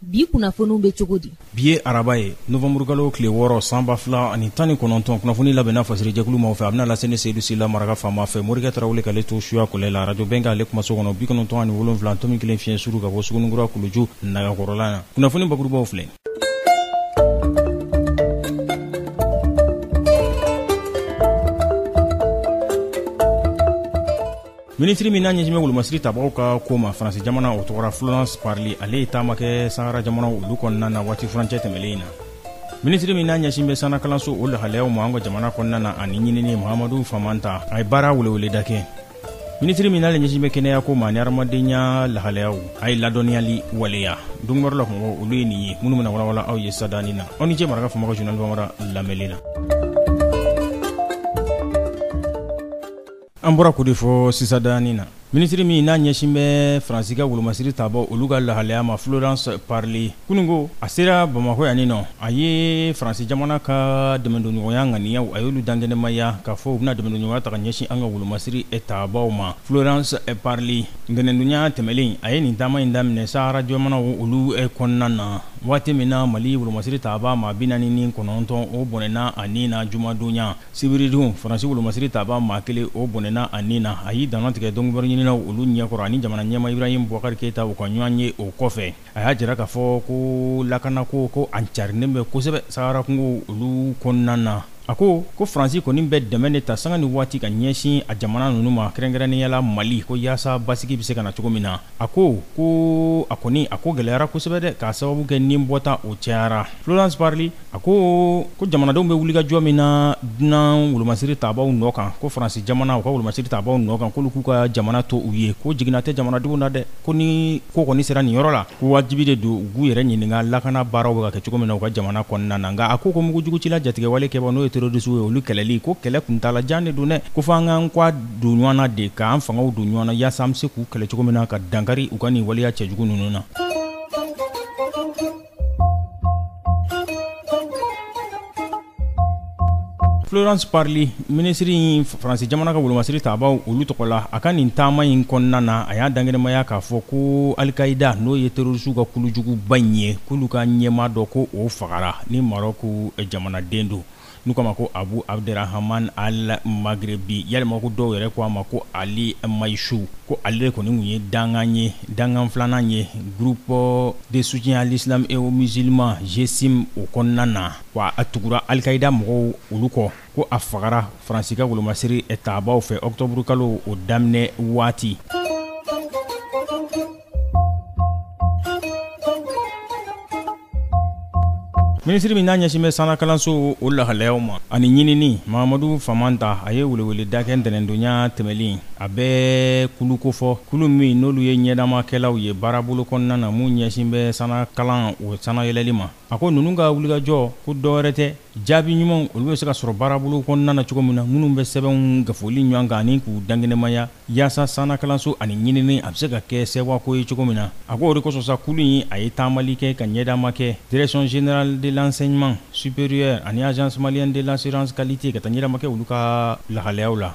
bi kunnafoniw bɛ cogo di bi ye araba ye novanburukalo tile wɔɔrɔ sanba fila ani tan ni kɔnɔntɔn kunnafoni labɛnna fasiri jɛkulu maaw fɛ a bɛna lase ne seyidu sila maraka faama fɛ morikɛ tarawele k'ale to suya kɔlɛ la radio bɛnkan ale kumaso kɔnɔ bi kɔnɔntɔn ani wolonfila tomi kelen fiɲɛ suru ka bɔ sugunikura kuluju nagakɔrɔla na kunnafoni bakurubaw filɛ minisiri min n'a ɲɛsinbɛ wolomasiri tabagaw ka ko ma faransi jamana o tɔgɔra florence parly ale ye taama kɛ sahara jamanaw olu kɔnɔna na waati furancɛ tɛmɛlen in na minisiri min n'a ɲɛsin bɛ sanna kalanso o lahalayaw ma an ka jamana kɔnɔna na ani ɲinini mahamadu famanta a ye baara weleweleda kɛ minisiri min n'ale ɲɛsin bɛ kɛnɛyako ma ani hadamadenya lahalayaw a ye ladɔnniyali waleya donkibaru la kumabaw olu ye nin ye minnu bɛna walawala aw ye sadanin na aw ni cɛ maraka faama ka journal bambara lamɛnli la an bɔra k'o de fɔ sisadanin na minisiri min n'a ɲɛsin bɛ faransi ka wolomasiri taabaw olu ka lahalaya ma florence parly kununko a sera bamakɔ yanni nɔ a ye faransi jamana ka dɛmɛdonɲɔgɔnya ŋaniyaw a y'olu dankɛnɛmaya k'a fɔ u bɛna dɛmɛdonɲɔgɔnya ta ka ɲɛsin an ka wolomasiri taabaw ma florence parly ntɛnɛndonya tɛmɛlen in a ye nin taama in daminɛ sahara jamanaw olu kɔnɔna na waati min na mali wolomasiri taabaa maa bi naani ni kɔnɔntɔn o bɔnɛna a ni na jumadonya Sibiridon faransi wolomasiri taabaa maa kelen o bɔnɛna a ni na a y'i dantigɛ donkibaru ɲininaw olu ɲɛkɔrɔ ani jamana ɲɛmaa ibrahim bubakari keyita u ka ɲɔgɔn ye o kɔfɛ a y'a jira k'a fɔ ko lakanako ko a carinen bɛ kosɛbɛ sahara kungow olu kɔnɔna na a ko ko faransi kɔni bɛ dɛmɛ de ta sanga ni waati ka ɲɛsin a jamana ninnu ma kɛrɛnkɛrɛnnenyala mali ko yaasa basigi bɛ se ka na cogo min na a ko ko a kɔni a ko gɛlɛyara kosɛbɛ dɛ k'a sababu kɛ ni bɔta o cɛyara florence parly A ko ko jamanadenw bɛ wulikajɔ min na dunan wolomasiri taabaw nɔ kan ko faransi jamana u ka wolomasiri taabaw nɔ kan k'olu k'u ka jamana to u ye ko jiginna tɛ jamanadenw na dɛ ko ni ko kɔni sera nin yɔrɔ la ko wajibi de don u k'u yɛrɛ ɲininka lakana baaraw bɛ ka kɛ cogo min na u ka jamana kɔnɔna na nka a ko ko mugujugucila jatigɛwale kɛbaa n'o ye terrorisiw ye olu kɛlɛli ko kɛlɛ kuntaala jan de don dɛ ko fo an k'an kɔ don ɲɔgɔn na de k'an fangaw don ɲɔgɔn na yaasa an bɛ se k'u kɛlɛ cogo min na ka dankari u ka nin waleya cɛjugu ninnu na Florence Parly minisiri Faransi jamana ka wolomasiri taabaw olu tɔgɔ la a ka nin taama in kɔnɔna na a y'a dankɛnɛmaya k'a fɔ ko Al-Qaida n'o ye terrorisiw ka kulujuguba in ye k'olu ka ɲɛmaa dɔ ko o fagara ni Marɔku jamanaden don N'u k'a ma ko Abu Abderrahman Al Maghrebi yalima ko dɔw yɛrɛ ko a ma ko Ali Maychou ko ale de kɔni tun ye dankan ye dankan filanan ye groupe de soutien à l'islam et aux musulmans GSIM o kɔnɔna na wa a tugura Al-Qaida mɔgɔw olu kɔ ko a fagara Faransi ka wolomasiri taabaw fɛ octobre kalo o daminɛ waati. minisiri min n'a ɲɛsin bɛ sanna kalanso o lahalayaw ma ani ɲinini mahamadu famanta a ye weleweleda kɛ ntɛnɛndonya tɛmɛlen a bɛ kulu kofɔ kulu min n'olu ye ɲɛdamakɛlaw ye baarabolo kɔnɔna na mun ɲɛsin bɛ sanna kalan o sannayɛlɛli ma A ko ninnu ka wulikajɔ ko dɔwɛrɛ tɛ jaabi ɲumanw olu bɛ se ka sɔrɔ baarabolo kɔnɔna na cogo min na minnu bɛ sɛbɛnw gafoli ɲɔgɔn kan ani k'u dankɛnɛmaya yaasa sannakalanso ani ɲinini a bɛ se ka kɛ sɛwako ye cogo min na a ko o de kosɔn sa kulu in a ye taamali kɛ ka ɲɛdama kɛ direction générale de l'enseignement supérieur ani agence malienne de l'assurance qualité ka taa ɲɛdama kɛ olu ka lahalayaw la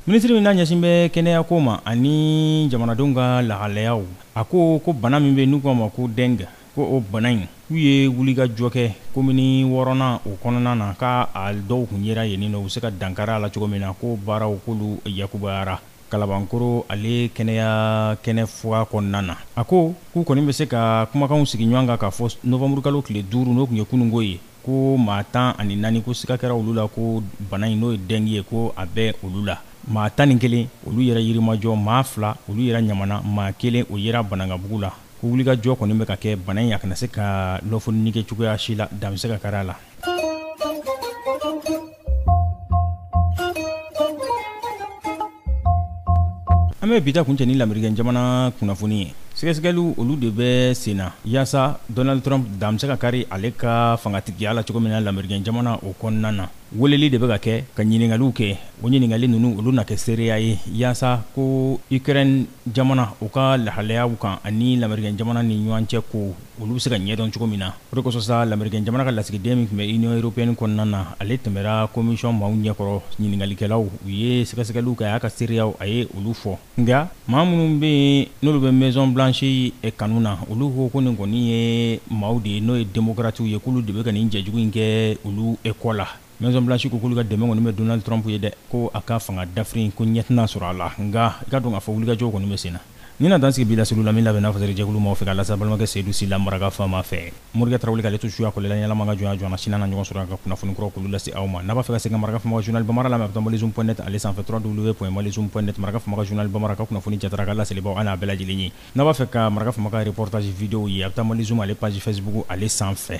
minisiri min n'a ɲɛsin bɛ kɛnɛyako ma ani jamanadenw ka lahalayaw a ko ko bana min bɛ n'u k'a ma ko dɛngi ko o bana in k'u ye wulikajɔ kɛ komini wɔɔrɔnan o kɔnɔna na k'a dɔw tun yera yenninnɔ u bɛ se ka dankari a la cogo min na ko baaraw k'olu yakubayara Kalabankoro ale kɛnɛya kɛnɛfuga kɔnɔna na a ko k'u kɔni bɛ se ka kumakanw sigi ɲɔgɔn kan k'a fɔ nowanburukalo tile duuru n'o tun ye kununko ye ko maa tan ani naani ko siga kɛra olu la ko bana in n'o ye dɛngi ye ko a bɛ olu la maa tan ni kelen olu yera yirimajɔ maa fila olu yera ɲamana maa kelen o yera banankabugu la ko wulikajɔ kɔni bɛ ka kɛ bana in a kana se ka lɔfɔnni kɛ cogoya si la dan bɛ se ka kari a la an bɛ bi ta kuncɛ ni lamerikɛn jamana kunnafoni ye sɛgɛsɛgɛliw olu de bɛ senna yaasa donald trump dan bɛ se ka kari ale ka fangatigiya la cogo min na lamerikɛn jamana o kɔnɔna na weleli de bɛ ka kɛ ka ɲiningaliw kɛ o ɲiningali ninnu olu na kɛ seereya ye yaasa ko ukraine jamana o ka lahalayaw kan ani lamerikɛn jamana ni ɲɔgɔn cɛ ko olu bɛ se ka ɲɛdɔn cogo min na o de kosɔn sa lamerikɛn jamana ka lasigiden min tun bɛ union européenne kɔnɔna na ale tɛmɛra commission maaw ɲɛkɔrɔ ɲininkalikɛlaw u ye sɛgɛsɛgɛliw kɛ a y'a ka seereyaw a ye olu fɔ nka maa minnu bɛ yen n'olu bɛ maison blanche kanu na olu ko ko nin kɔni ye maaw de ye n'o ye democratiw ye k'olu de bɛ ka nin jɛjugu in kɛ olu kɔ la Maison Blanche ko k'olu ka dɛmɛ kɔni bɛ Donald Trump ye dɛ, ko a ka fanga dafiri in ko ɲɛ tɛna sɔrɔ a la, nka i ka dɔn k'a fɔ wulikajɔw kɔni bɛ senna. Nin na dan sigi bi laseliw la min labɛnna fasarijɛkulu maaw fɛ k'a lase a balimakɛ Seydou Sylla maraka faama fɛ. Morikɛ Tarawele k'ale to suya kɔlila ɲɛnama ka jɔnya jɔnna Sini an na ɲɔgɔn sɔrɔ yan ka kunnafoni kuraw k'olu lase aw ma. N'a b'a fɛ ka segin ka maraka faama ka journal Bambara lamɛn a bɛ taa Malizoom point net ale sanfɛ www.malizoom point net maraka faama ka journal Bambara ka kunnafoni jatara a ka laselibaaw a n'a bɛɛ lajɛlen ye. N'a b'a fɛ ka maraka faama ka reportage video ye a bɛ taa Malizoom ale page Facebook ale sanfɛ.